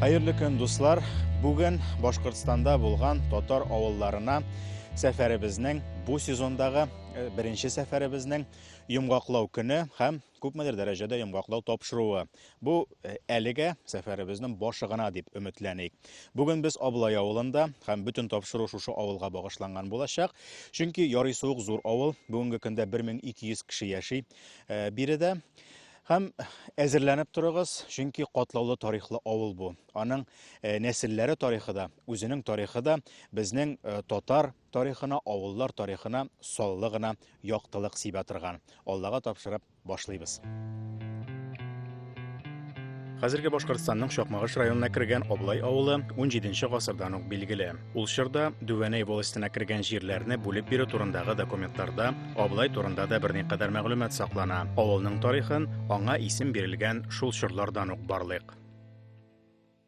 Хәерле көн, дуслар! Бүген Башкортстанда булган татар авылларына сәфәребезнең бу сезондагы э, беренче сәфәребезнең йомгаклау көне һәм күпмедер дәрәҗәдә йомгаклау тапшыруы. Бу э, әлегә сәфәребезнең башы гына дип өметләник. Бүген без Аблай авылында һәм бөтен тапшыру шушы авылга багышланган булачак. Чөнки ярый суык зур авыл, бүгенге көндә 1200 кеше яши э, биредә. Һәм әзерләнеп торыгыз, чөнки катлаулы тарихлы авыл бу. Аның э, нәселләре тарихы да, үзенең тарихы да безнең татар тарихына, авыллар тарихына саллы гына яктылык сибә торган, Аллага тапшырып башлыйбыз. Хәзерге Башкортстанның Чакмагыш районына кергән Аблай авылы 17 нче гасырдан ук билгеле. Ул чорда Дүвәнәй волостенә кергән җирләрне бүлеп бирү турындагы документларда Аблай турында да берникадәр мәгълүмат саклана. Авылның тарихын аңа исем бирелгән шул чорлардан ук барлыйк.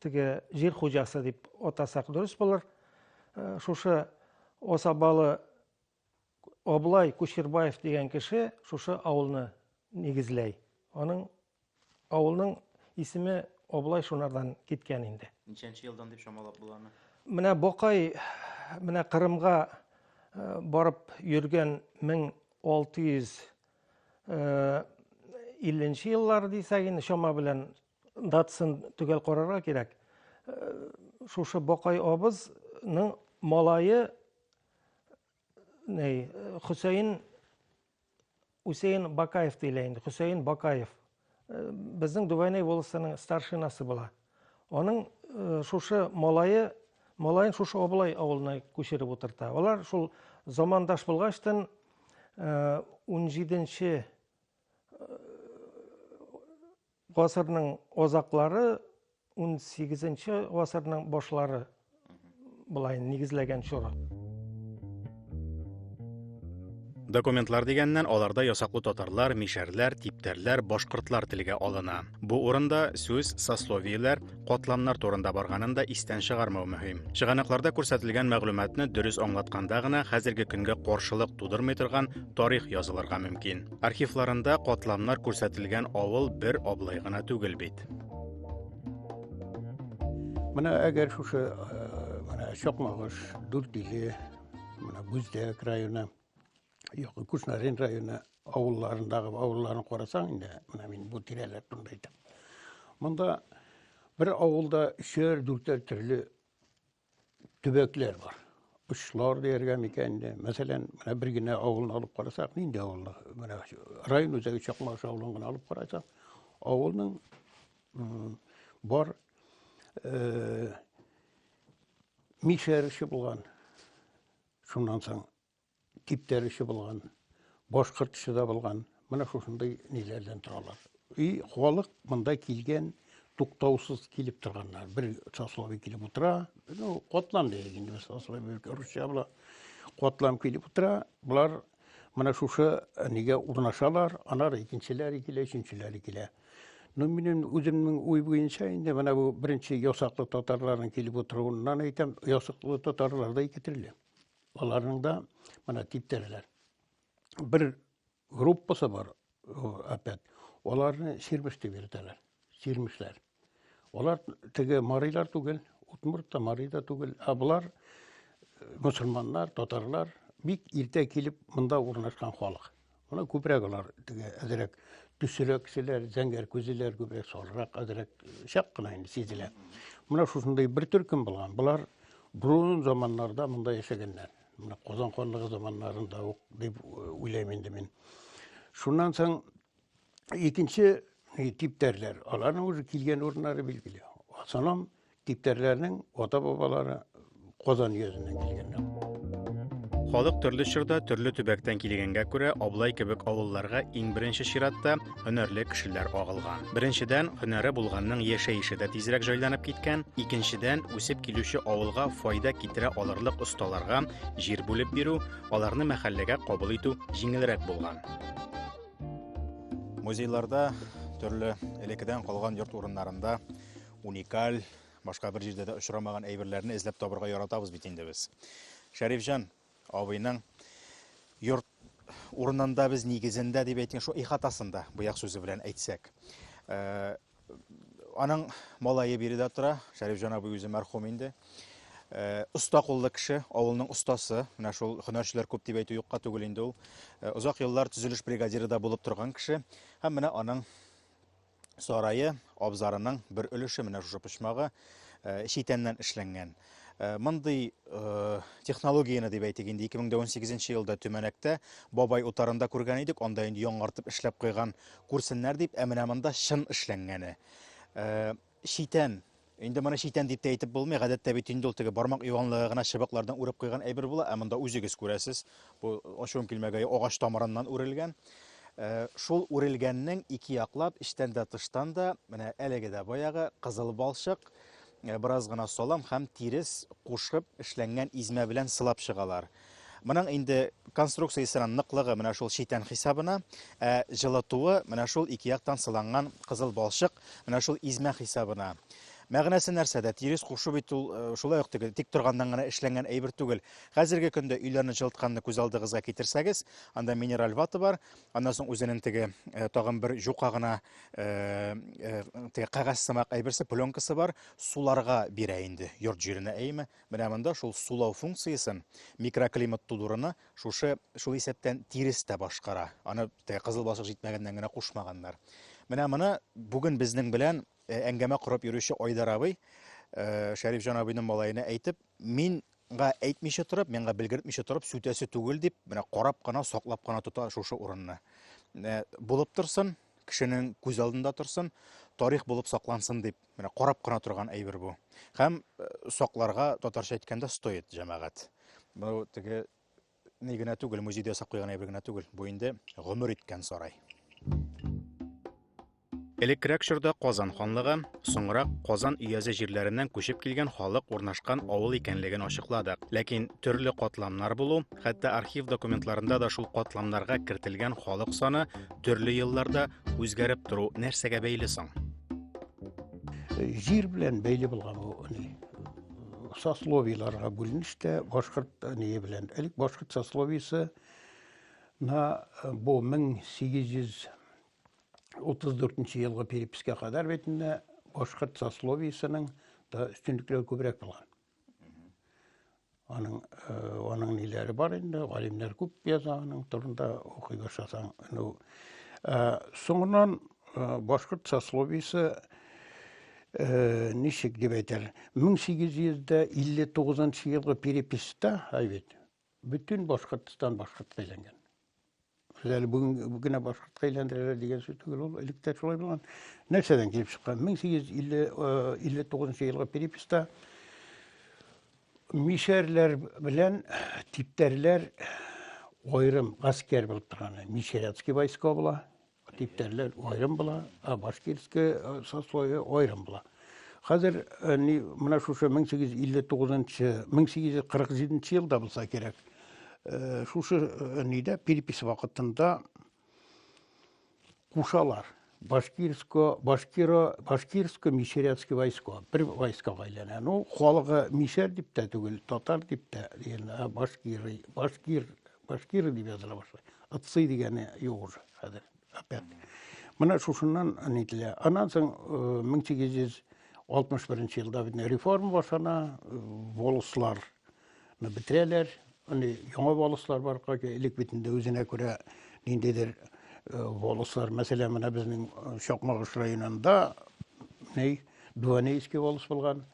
теге җир хуҗасы дип атасак дөрес булыр. Э, шушы Осабалы Облай Кушербаев дигән кеше шушы авылны нигезләй. Аның авылның исеме Облай шунардан киткән инде. Ничәнче елдан дип чамалап була аны? Менә Бокай менә Кырымга э, барып йөргән 1650 э, еллар дисәк инде чама белән Датсын төгәл карарга кирәк. Э, шушы Бакай абызның малае ней, Хөсәен Үсәен Бакаев диелә инде. Хөсәен Бакаев. Э, безнең Дубайнай волосының старшинасы була. Аның э, шушы малае малаен шушы Абылай авылына күчереп утырта. Алар шул замандаш булгачтан 17 э, Гасырның азаклары, унсигезенче гасырның башлары болай нигезләгән чоры. Документлар дигәннән аларда ясаклы татарлар, мишәрләр, типтәрләр, башкортлар телгә алына. Бу урында сүз сословиеләр, катламнар турында барганын да истән чыгармау мөһим. Чыганакларда күрсәтелгән мәгълүматны дөрес аңлатканда гына хәзерге көнгә каршылык тудырмый торган тарих язылырга мөмкин. Архивларында катламнар күрсәтелгән авыл бер аблай гына түгел бит. Менә әгәр шушы э, менә Чокмагыш, Дүртиле, менә Бүздәк районы, югы Кушнарин районы авылларындагы авылларын карасаң инде, менә мин бу тирәләр турында әйтәм. Монда бер авылда өчәр, дүртәр төрле төбәкләр бар. Очлар дияргә микән инде. Мәсәлән, менә бер генә авылны алып карасак, нинди авылны? Менә район үзәге Чакмагыш авылын гына алып карасак, авылның бар э, мишәр эше булган. Шуннан соң Киптерүче булган, башкортчы да булган, менә шушындый ниләрдән торалар. И халык монда килгән, туктаусыз килеп торганнар. Бер сословие килеп утыра, ну, котлам дияйек инде, сословие русча була. Котлам килеп утыра, болар менә шушы э, нигә урнашалар, анар икенчеләре килә, өченчеләре килә. Ну, минем үземнең уй буенча инде менә бу беренче ясаклы татарларның килеп утыруыннан әйтәм, ясаклы татарлар да ике төрле. Аларның да менә типтерләр. Бер группасы бар, опять. Аларны сирмеш дип йөртәләр. Сирмешләр. Алар теге марилар түгел, утмурт та мари да түгел, ә болар мусульманнар, татарлар бик иртә килеп монда урнашкан халык. Ана күбрәк алар теге әзрәк төсерәк кешеләр, зәңгәр күзлеләр күбрәк салрак, әзрәк чак кына инде сизелә. Менә шушындый бер төркем булган. Болар бурун заманнарда монда яшәгәннәр. Менә Казан ханлыгы заманнарында ук дип уйлыйм инде мин. Шуннан соң икенче типтәрләр, аларның уже килгән урыннары билгеле. Асаном Типтәрләрнең ата-бабалары Казан өязеннән килгәннәр. Халык төрле чорда төрле төбәктән килгәнгә күрә Аблай кебек авылларга иң беренче чиратта һөнәрле кешеләр агылган. Беренчедән, һөнәре булганның яшәеше дә тизрәк җайланып киткән, икенчедән, үсеп килүче авылга файда китерә алырлык осталарга җир бүлеп бирү, аларны мәхәлләгә кабул итү җиңелрәк булган. Музейларда төрле элеккедән калган йорт урыннарында Уникаль, башка бер җирдә дә очрамаган әйберләрне эзләп табырга яратабыз бит инде без. Шәрифҗан абыйның йорт урынында без нигезендә дип әйткән шул ихатасында буяк сүзе белән әйтсәк. Э, аның малае биредә тора, Шәрифҗан абый үзе мәрхүм инде. Э, оста куллы кеше, авылның остасы, менә шул һөнәрчеләр күп дип әйтү юкка түгел инде ул. Озак э, еллар төзелеш бригадиры да булып торган кеше һәм менә аның сарае, абзарының бер өлеше менә шушы почмагы э, читәннән эшләнгән. Э, мондый э, технологияне дип әйтик инде 2018 елда Төмәнәктә бабай утарында күргән идек, анда инде яңартып эшләп куйган күрсеннәр дип, ә менә монда чын эшләнгәне. Читән Инде моны читән дип тә әйтеп булмый, гадәттә бит инде ул теге бармак юанлыгы гына чыбыклардан үреп куйган әйбер була, ә монда үзегез күрәсез, бу ачуым килмәгәе агач тамырыннан үрелгән. Э, шул үрелгәннең ике яклап, эчтән дә тыштан да, менә әлеге дә баягы кызыл балчык, э, бераз гына салам һәм тирес кушып эшләнгән измә белән сылап чыгалар. Моның инде конструкциясенең ныклыгы менә шул читән хисабына, ә җылытуы менә шул ике яктан сыланган кызыл балчык менә шул измә хисабына. Мәгънәсе нәрсәдә? Тирес кушу бит ул э, шулай ук теге тик торганнан гына эшләнгән әйбер түгел. Хәзерге көндә өйләрне җылытканны күз алдыгызга китерсәгез, анда минераль вата бар, аннан соң үзенең теге э, тагын бер җука гына э, теге кәгазь сымак әйберсе, пленкасы бар, суларга бирә инде йорт җиренә әйме, Менә монда шул сулау функциясен, микроклимат тудыруны шушы, шул исәптән тирес тә башкара. Аны теге кызыл балчык җитмәгәннән генә кушмаганнар. Менә моны бүген безнең белән э, әңгәмә корып йөрүче Айдар абый, э, Шәрифҗан абыйның малаена әйтеп, мин га әйтмичә торып, миңа белгертмичә торып, сүтәсе түгел дип, менә карап кына, саклап кына тота шушы урынны. Э, булып торсын, кешенең күз алдында торсын, тарих булып саклансын дип Менә карап кына торган әйбер бу. Һәм э, сакларга татарча әйткәндә стоит җәмәгать. Бу теге ни генә түгел, музейда ясап куйган әйбер генә түгел. Бу инде гомер иткән сарай. Элеккерәк чорда Казан ханлыгы, соңрак Казан өязе җирләреннән күчеп килгән халык урнашкан авыл икәнлеген ачыкладык. Ләкин төрле катламнар булу, хәтта архив документларында да шул катламнарга кертелгән халык саны төрле елларда Үзгәреп тору нәрсәгә бәйле соң? Җир белән бәйле булган бу ни сословиеларга бүленеш тә башкорт ни белән. Элек башкорт сословиесе на э, бу 1834 елгы перепискә кадәр бит инде башкорт сословиесенең да өстенлекләре күбрәк булган. Аның э, аның ниләре бар инде, галимнәр күп яза аның турында укый башласаң. Ну, э, соңыннан э, башкорт сословиесе э, ничек дип әйтәләр, 1859 елгы переписта, әй бит, Бөтен Башкортстан башкортка әйләнгән. Без әле бүген генә башкортка әйләндерәләр дигән сүз түгел ул, элек тә шулай булган. Нәрсәдән килеп чыккан? 1859 э, елгы переписта мишәрләр белән типтәрләр аерым гаскәр булып торган. Мишәрятский войска була, Типтәрләр аерым була, ә башкирская э, сословие аерым була. Хәзер э, ни менә шушы 1859-1847 елда булса кирәк. Э, шушы нидә перепись вакытында кушалар. Башкирско, башкиро, башкирско мишерецкий войско. Бер войскага әйләнә. Ну, халыгы мишер дип тә түгел, татар дип тә, дигән, башкир, башкир Башкиры дип языла башлый. Ыцый дигәне юк уже хәзер. Опять. Менә шушыннан нителә. Аннан соң 1861 елда бит реформа башлана, волосларны бетерәләр. Аны яңа волослар бар, кайча элек бит инде үзенә күрә ниндидер волослар, мәсәлән, менә безнең Чакмагыш районында, ней, Дуанейский волос булган.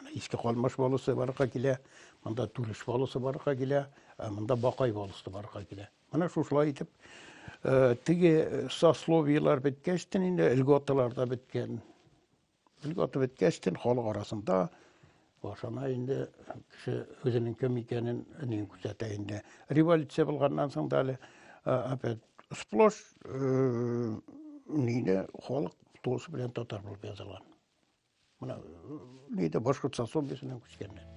Менә иске калмаш баласы барырга килә, монда түреш баласы барырга килә, ә монда бакай баласы барырга килә. Менә шушылай итеп, э, теге сословиелар беткәчтен инде льготалар да беткән. Льгота беткәчтен халык арасында башына инде кеше үзенең кем икәнен ни күрсәтә инде. Революция булганнан соң да әле э, опять сплош э, нигә халык тулысы белән татар булып язылган. мына нейді башқұртстан сомбесінен көшкеннен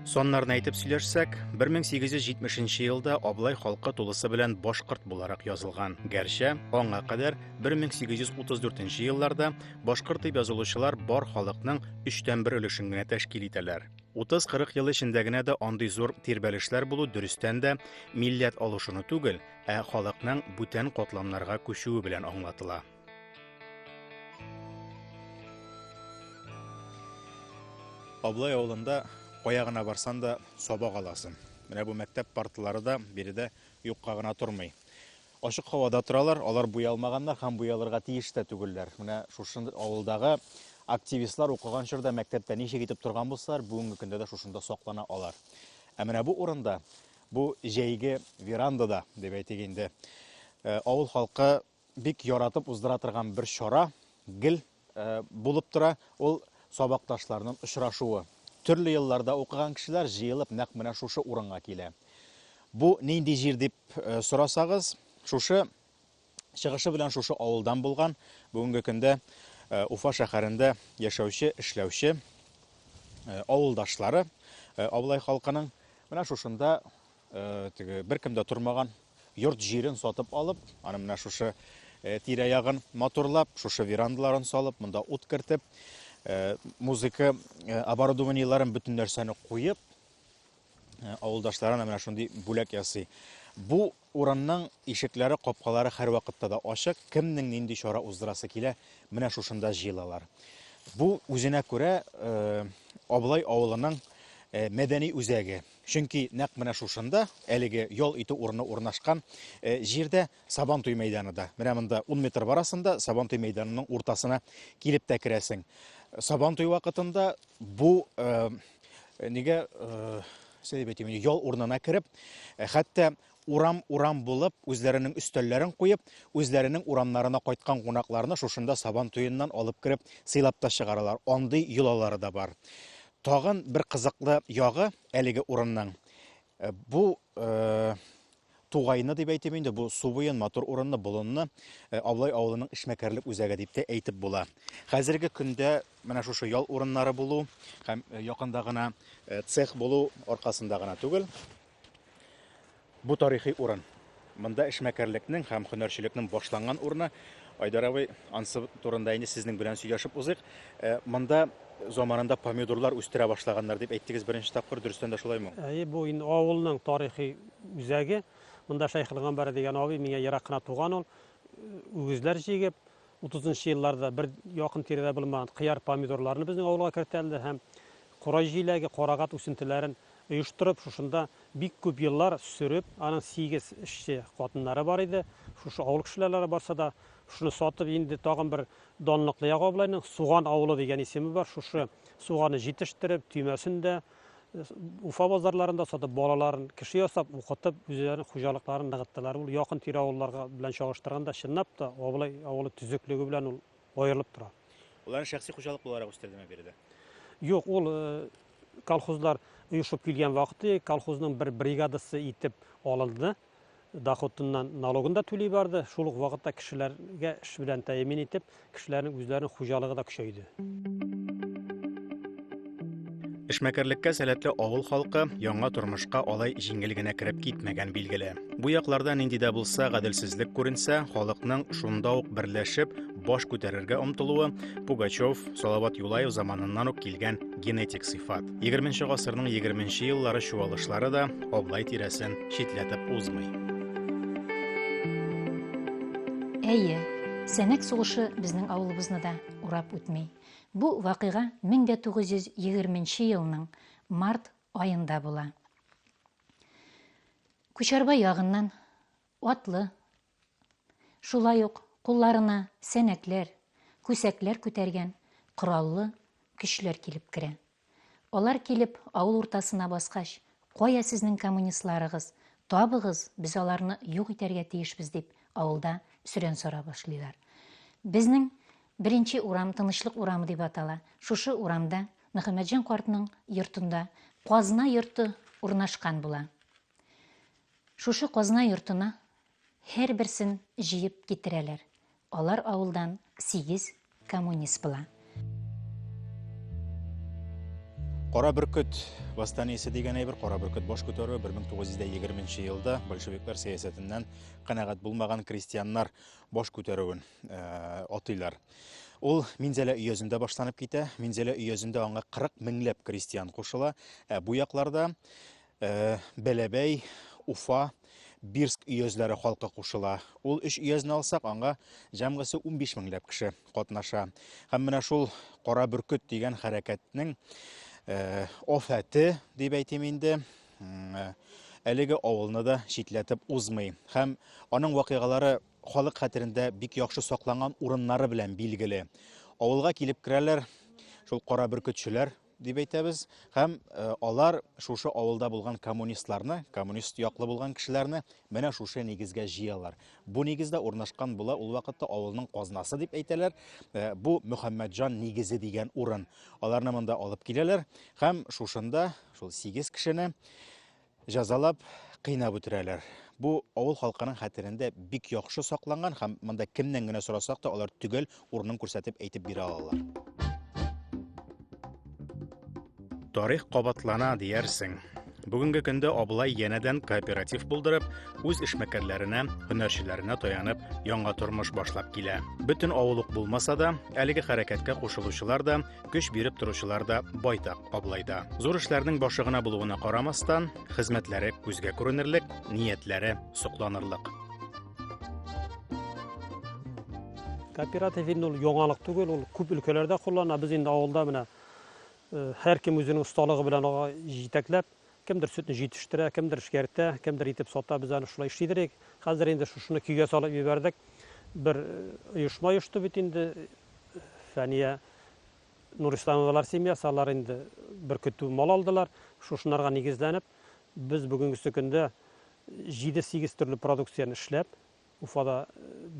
Соннарны әйтеп сөйләшсәк, 1870 елда Аблай халкы тулысы белән башкорт буларак язылган. Гәрчә, аңа кадәр 1834 елларда башкорт дип язылучылар бар халыкның 3тән 1 өлешен генә тәшкил итәләр. 30-40 ел эчендә генә дә андый зур тирбәлешләр булу дөрестән дә милләт алышуны түгел, ә халыкның бүтән катламнарга күчүе белән аңлатыла. Аблай авылында кая гына барсан да сабак аласың. Менә бу мәктәп партылары да биредә юкка гына тормый. Ачык һавада торалар, алар буялмаганнар һәм буялырга тиеш тә түгелләр. Менә шушы авылдагы активистлар укыган чорда мәктәптә ничек итеп торган булсалар, бүгенге көндә дә шушында саклана алар. Ә менә бу урында Бу җәйге верандада, дип әйтик инде, авыл халкы бик яратып уздыра торган бер чара гел булып тора. Ул сабакташларның очрашуы. Төрле елларда укыган кешеләр җыелып нәкъ менә шушы урынга килә. Бу нинди җир дип сорасагыз, шушы Чыгышы белән шушы авылдан булган, бүгенге көндә э, Уфа шәһәрендә яшәүче, эшләүче э, авылдашлары э, Аблай халкының менә шушында теге беркем дә тормаган йорт җирен сатып алып, аны менә шушы тирә-ягын матурлап, шушы верандаларын салып, монда ут кертеп, музыка оборудованиеләрен бөтен нәрсәне куеп, авылдашларына менә шундый бүләк ясый. Бу Урамның ишекләре, капкалары һәрвакытта да ачык, кемнең нинди чара уздырасы килә, менә шушында җыелалар. Бу үзенә күрә Абылай авылының мәдәни үзәге. Чөнки нәкъ менә шушында, әлеге ял итү урыны урнашкан җирдә Сабантуй мәйданы да. Менә монда 10 метр барасың да, Сабантуй мәйданының уртасына килеп тә керәсең. Сабантуй вакытында бу нигә Сөйләп әйтим, ял урынына кереп, э, хәтта урам-урам булып, үзләренең өстәлләрен куеп, үзләренең урамнарына кайткан кунакларны шушында сабан туеннан алып кереп сыйлап та чыгаралар. Андый йолалары да бар. Тагын бер кызыклы ягы әлеге урынның э, бу э, Тугаены дип әйтим инде, бу су буен, матур урынны, болынны Аблай авылының эшмәкәрлек үзәге дип тә әйтеп була. Хәзерге көндә менә шушы ял урыннары булу һәм якында гына цех булу аркасында гына түгел, бу тарихи урын. Монда эшмәкәрлекнең һәм һөнәрчелекнең башланган урыны. Айдар абый, ансы турында инде сезнең белән сөйләшеп узыйк. Монда заманында помидорлар үстерә башлаганнар дип әйттегез беренче тапкыр, дөрестән дә шулаймы? Әйе, бу инде авылның тарихи Үзәге, монда Шәйхел Гамбәре дигән абый, миңа ерак кына туган ул, үгезләр җигеп, 30 елларда бер якын тирәдә булмаган кыяр помидорларны безнең авылга кертәлде һәм кора җиләге, карагат үсентеләрен оештырып, шушында бик күп еллар сөреп, аның 8 эшче хатыннары бар иде. Шушы авыл кешеләре барса да шуны сатып инде тагын бер данлыклы ягы Суган авылы дигән исеме бар. Шушы суганы җитештереп, төймәсен дә, Уфа базарларында сатып балаларын кеше ясап, укытып, үзләренең хуҗалыкларын ныгыттылар. Ул якын тирә авылларга белән чагыштырганда чынлап та Абылай авылы төзеклеге белән ул аерылып тора. Уларны шәхси хуҗалык буларак үстердеме биредә? Юк, ул э, колхозлар оешып килгән вакыты колхозның бер бригадасы итеп алынды. доходыннан налогын да түли барды, шул ук вакытта кешеләргә эш белән тәэмин итеп, кешеләрнең үзләренең хуҗалыгы да көчәйде. Эшмәкәрлеккә сәләтле авыл халкы яңа тормышка алай җиңел генә кереп китмәгән билгеле. Бу якларда нинди дә булса гаделсезлек күренсә, халыкның шунда ук берләшеп, баш күтәрергә омтылуы Пугачев, Салават Юлаев заманыннан ук килгән генетик сыйфат. 20 гасырның 20 еллары чуалышлары да Аблай тирәсен читләтеп узмый. Әйе, Сәнәк сугышы безнең авылыбызны да урап үтми. Бу вакыйга 1920 елның март аенда була. Күчәрбай ягыннан Атлы. Шулай ук кулларына сәнәкләр, күсәкләр күтәргән кораллы көчләр килеп керә. Алар килеп авыл уртасына баскач, Кая сезнең коммунистларыгыз? Табыгыз, без аларны юк итәргә тиешбез, дип авылда сөрән сора башлыйлар. Безнең беренче урам Тынычлык урамы дип атала. Шушы урамда Мөхәммәтҗан картның йортында казна йорты урнашкан була. Шушы казна йортына һәрберсен җыеп китерәләр. Алар авылдан сигез коммунист була. Кара бөркет восстаниесе дигән әйбер, кара бөркет баш күтәрүе 1920 елда большевиклар сәясәтеннән канәгать булмаган крестьяннар баш күтәрүен э, атыйлар. Ул Минзәлә өязендә башланып китә. Минзәлә өязендә аңа 40 меңләп крестьян кушыла. Ә бу якларда Э, Бәләбәй, Уфа, Бирск өязләре халкы кушыла. Ул өч өязне алсак, аңа җәмгысе 15 меңләп кеше катнаша. Һәм менә шул Кара бөркет дигән хәрәкәтнең э, офәте, дип әйтим инде, э, әлеге авылны да читләтеп узмый. Һәм аның вакыйгалары халык хәтерендә бик яхшы сакланган урыннары белән билгеле. Авылга килеп керәләр, шул кара бөркетчеләр дип әйтәбез һәм э, алар шушы авылда булган коммунистларны коммунист яклы булган кешеләрне менә шушы нигезгә җыялар бу нигездә урнашкан була ул вакытта авылның казнасы дип әйтәләр э, бу мөхәммәтҗан нигезе дигән урын аларны монда алып киләләр һәм шушында шул сигез кешене Җәзалап, кыйнап үтерәләр. Бу авыл халкының хәтерендә бик яхшы сакланган һәм монда кемнән генә сорасак та, алар төгәл урынын күрсәтеп әйтеп бирә алалар. Тарих кабатлана, диярсең. Бүгенге көндә Абылай янәдән кооператив булдырып, үз эшмәкәрләренә, һөнәрчеләренә таянып, яңа тормыш башлап килә. Бөтен авыл ук булмаса да, әлеге хәрәкәткә кушылучылар да көч биреп торучылар да байтак абылайда зур эшләрнең башы гына булуына карамастан хезмәтләре күзгә күренерлек ниятләре сокланырлык кооператив инде ул яңалык түгел ул күп өлкәләрдә куллана без инде авылда менә һәркем үзенең осталыгы белән ага җитәкләп Кемдер сөтне җитештерә, кемдер эшкәртә, кемдер итеп сата, без аны шулай эшлидер идек. Хәзер инде шушыны көйгә салып җибәрдек. Бер оешма оешты бит инде. Фәния Нурисламовалар семьясы, алар инде бер көтү мал алдылар. Шушынарга нигезләнеп, без бүгенгесе көндә 7-8 төрле продукцияне эшләп, Уфада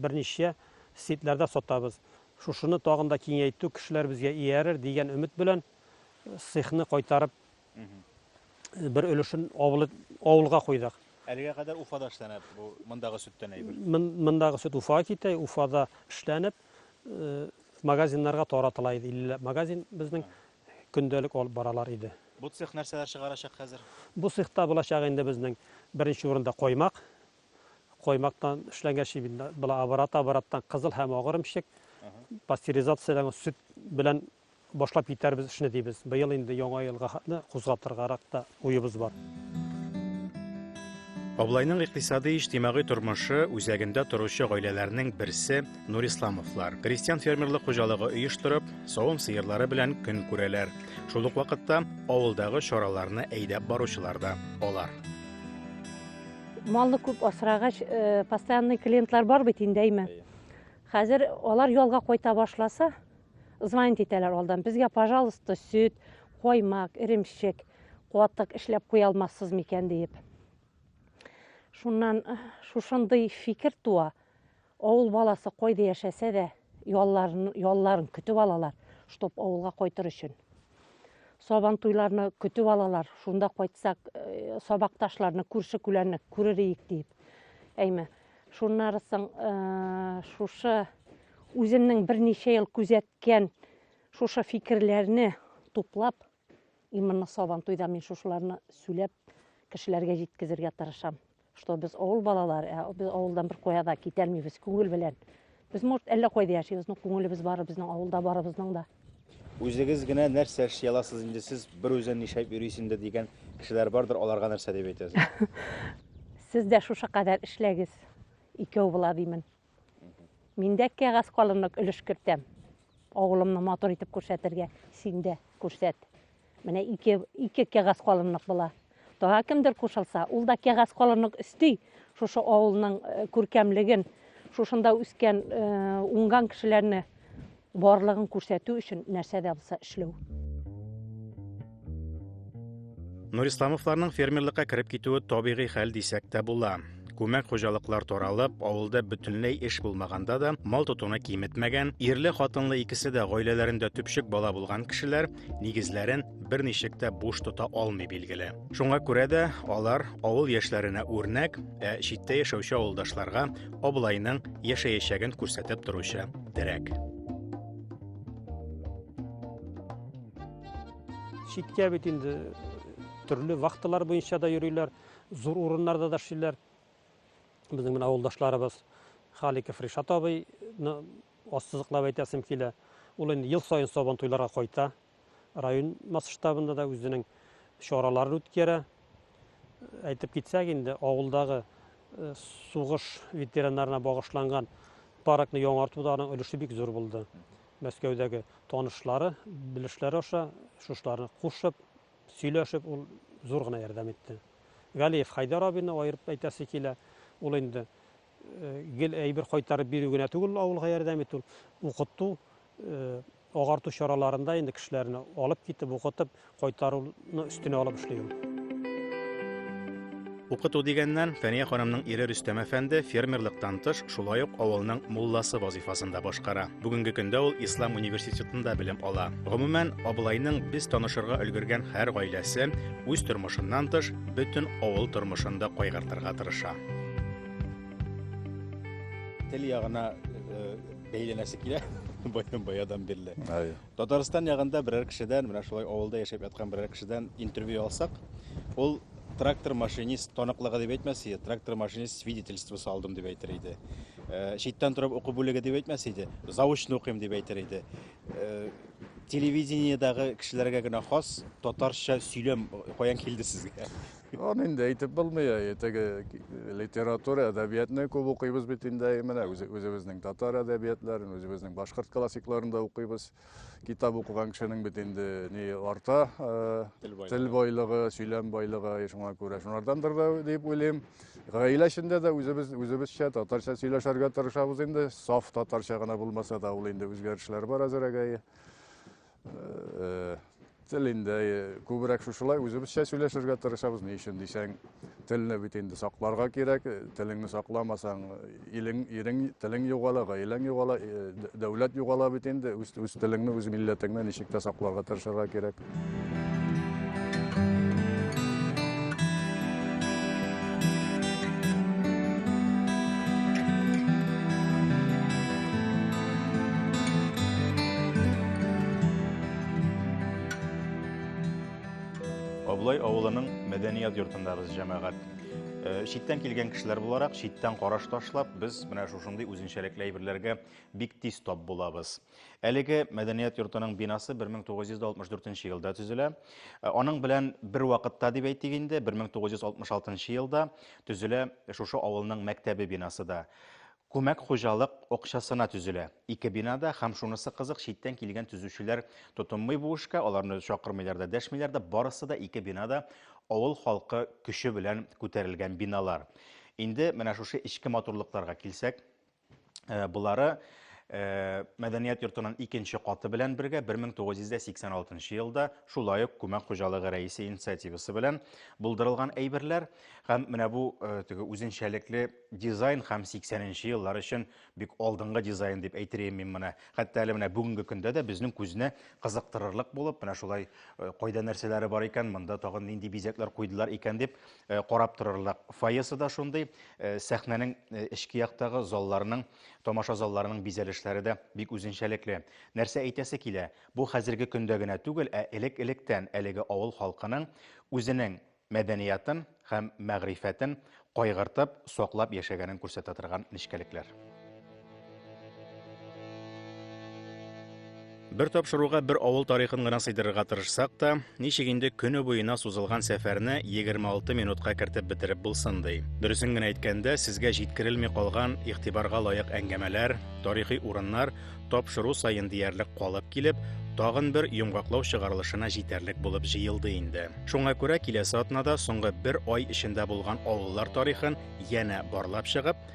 берничә сетләрдә сатабыз. Шушыны тагын да киңәйтү, кешеләр безгә иярер дигән өмет белән цехны кайтарып Бер өлешен авылы авылга куйдык. Әлегә кадәр Уфада эшләнә бу мондагы сөттән әйбер. Мондагы сөт Уфага китә, Уфада эшләнеп, э, магазиннарга таратыла иде. 50 магазин безнең көндәлек алып баралар иде. Бу цех нәрсәләр чыгарачак хәзер? Бу цехта булачак инде безнең беренче урында коймак. Коймактан эшләнгән ши бит била оборот обороттан кызыл һәм агырымчык пастеризацияләнгән сөт белән Башлап китәрбез эшне дибез. Быел инде яңа елга хәтле кузгатыргарак та уебыз бар. Аблайның икътисадый-иҗтимагый тормышы үзәгендә торучы гаиләләрнең берсе Нурисламовлар. Крестьян-фермерлык хуҗалыгы оештырып, савым сыерлары белән көн күрәләр. Шул ук вакытта авылдагы чараларны әйдәп баручылар да алар. Малны күп асрагач, э, постоянный клиентлар бар бит инде, әйме? Хәзер алар ялга кайта башласа, Звонить итәләр алдан. Безгә, пожалуйста, сөт, коймак, иремчек, куатык эшләп куя алмассыз микән диеп. Шуннан э, шушындый фикер туа. Авыл баласы кайда яшәсә дә, ялларын, ялларын көтеп алалар, чтоб авылга кайтыр өчен. Сабан туйларны көтеп алалар, шунда кайтсак, э, сабакташларны, күрше күләрне күрер иек диеп. Әйме, Шуннары соң шушы үземнең берничә ел күзәткән шушы фикерләрне туплап, именно сабан туйда мин шушыларны сүләп кешеләргә җиткезергә тырышам. Что без авыл балалары, ә без авылдан бер куяда китәлмибез күңел белән. Без, может, әллә кайда яшибез, но күңелебез бары безнең авылда барыбызның да. Үзегез генә нәрсә эшли аласыз инде сез бер үзен нишләп йөрисез инде дигән кешеләр бардыр, аларга нәрсә дип әйтәсез? Сез дә шушы кадәр эшләгез, икәү була димен. Мин дә кәгазь калынлык өлеш кертәм. Авылымны матур итеп күрсәтергә, син дә күрсәт. Менә ике, ике кәгазь калынлык була. Тага кемдер кушылса, ул да кәгазь калынлык өсти. Шушы авылның э, күркәмлеген, шушында үскән, э, уңган кешеләрне барлыгын күрсәтү өчен нәрсә дә булса эшләү. Нурисламовларның фермерлыкка кереп китүе табигый хәл дисәк тә була. Күмәк хуҗалыклар таралып, авылда бөтенләй эш булмаганда да мал тотуны киметмәгән, ирле хатынлы икесе дә гаиләләрендә төпчек бала булган кешеләр нигезләрен берничек тә буш тота алмый билгеле. Шуңа күрә дә алар авыл яшьләренә үрнәк, ә читтә яшәүче авылдашларга Аблайның яшәячәген күрсәтеп торучы терәк. Читкә бит инде төрле вахталар буенча да йөриләр, зур урыннарда да эшлиләр. Безнең менә авылдашларыбыз Халиков Ришат абыйны ассызыклап әйтәсем килә. Ул инде ел саен сабан туйларга кайта. Район масштабында да үзенең чараларын үткәрә. Әйтеп китсәк инде, авылдагы э, сугыш ветераннарына багышланган паркны яңартуда аның өлеше бик зур булды. Мәскәүдәге танышлары, белешләре аша шушларны кушып, Сөйләшеп ул зур гына ярдәм итте. Галиев Хайдар абыйны аерып әйтәсе килә. Ул инде гел әйбер кайтарып бирү генә түгел, авылга ярдәм итү, укыту, агарту чараларында инде кешеләрне алып китеп, укытып, кайтаруны өстенә алып эшли ул. Укыту дигәннән, Фәния ханымның ире Рөстәм әфәнде фермерлыктан тыш, шулай ук авылның мулласы вазифасын да башкара. Бүгенге көндә ул Ислам университетында белем ала. Гомумән, абылайның без танышырга өлгергән һәр гаиләсе үз тормышыннан тыш, бөтен авыл тормышын да кайгыртырга тырыша. Тел ягына э, бәйләнәсе килә баян баядан бирле. Әйе. Татарстан ягында берәр кешедән, менә шулай авылда яшәп яткан берәр кешедән интервью алсак, ул трактор машинист таныклыгы дип әйтмәс иде, трактор машинист свидетельствосы алдым дип әйтер иде. Э, читтән торып уку бүлеге дип әйтмәс иде, заочно укыйм дип әйтер иде. Э, телевидениедагы кешеләргә генә хас татарча сөйләм каян килде сезгә? Аны инде әйтеп булмый, ә теге литература, әдәбиятны күп укыйбыз бит инде менә үзебезнең татар әдәбиятларын, үзебезнең башкорт классикларын да укыйбыз. Китап укыган кешенең бит инде ни арта, тел байлыгы, сөйләм байлыгы, шуңа күрә шунардандыр да дип уйлыйм. Гаилә эчендә дә үзебез үзебезчә татарча сөйләшергә тырышабыз инде, саф татарча гына булмаса да, ул инде үзгәрешләр бар әзерәгәе. Э, тел инде э, күбрәк шушылай үзебезчә сөйләшергә тырышабыз ни өчен дисәң телне бит инде сакларга кирәк э, телеңне сакламасаң илең ирең телең югала гаиләң югала дәүләт югала бит инде үз, үз телеңне үз милләтеңне ничек тә сакларга тырышырга кирәк Абылай авылының мәдәният йортындагыз җәмәгать. Э, читтән килгән кешеләр буларак, читтән караш ташлап, без менә шушындый үзенчәлекле әйберләргә бик тиз тап булабыз. Әлеге мәдәният йортының бинасы 1964 елда төзелә. Э, аның белән бер вакытта дип әйтик инде, 1966 елда төзелә шушы авылның мәктәбе бинасы да. Күмәк хуҗалык акчасына төзелә. Ике бинада һәм шунысы кызык, читтән килгән төзүчеләр тотынмый бу эшкә, аларны чакырмыйлар да, дәшмиләр дә, барысы да ике бинада авыл халкы көче белән күтәрелгән биналар. Инде менә шушы эчке матурлыкларга килсәк, Э, болары э, мәдәният йортының икенче каты белән бергә 1986 елда шулай ук күмәк хуҗалыгы рәисе инициативасы белән булдырылган әйберләр һәм менә бу э, теге үзенчәлекле дизайн һәм 80 нче еллар өчен бик алдынгы дизайн дип әйтергә мин моны. Хәтта әле менә бүгенге көндә дә безнең күзне кызыктырырлык булып, менә шулай кайда нәрсәләре бар икән, монда тагын нинди бизәкләр куйдылар икән дип Э, карап торырлык фойесы да шундый э, сәхнәнең э, эчке яктагы залларның тамаша залларының бизәлешләре дә бик үзенчәлекле нәрсә әйтәсе килә бу хәзерге көндә генә түгел ә элек электән әлеге авыл халкының үзенең мәдәниятын һәм мәгърифәтен кайгыртып саклап яшәгәнен күрсәтә торган нечкәлекләр Бер тапшыруга бер авыл тарихын гына сыйдырырга тырышсак та, ничек инде көне буена сузылган сәфәрне 26 минутка кертеп бетереп булсын ди. Дөресен генә әйткәндә, сезгә җиткерелми калган игътибарга лаек әңгәмәләр, тарихи урыннар тапшыру саен диярлек калып килеп, тагын бер йомгаклау чыгарылышына җитәрлек булып җыелды инде. Шуңа күрә киләсе атнада соңгы бер ай эчендә булган авыллар тарихын янә барлап чыгып,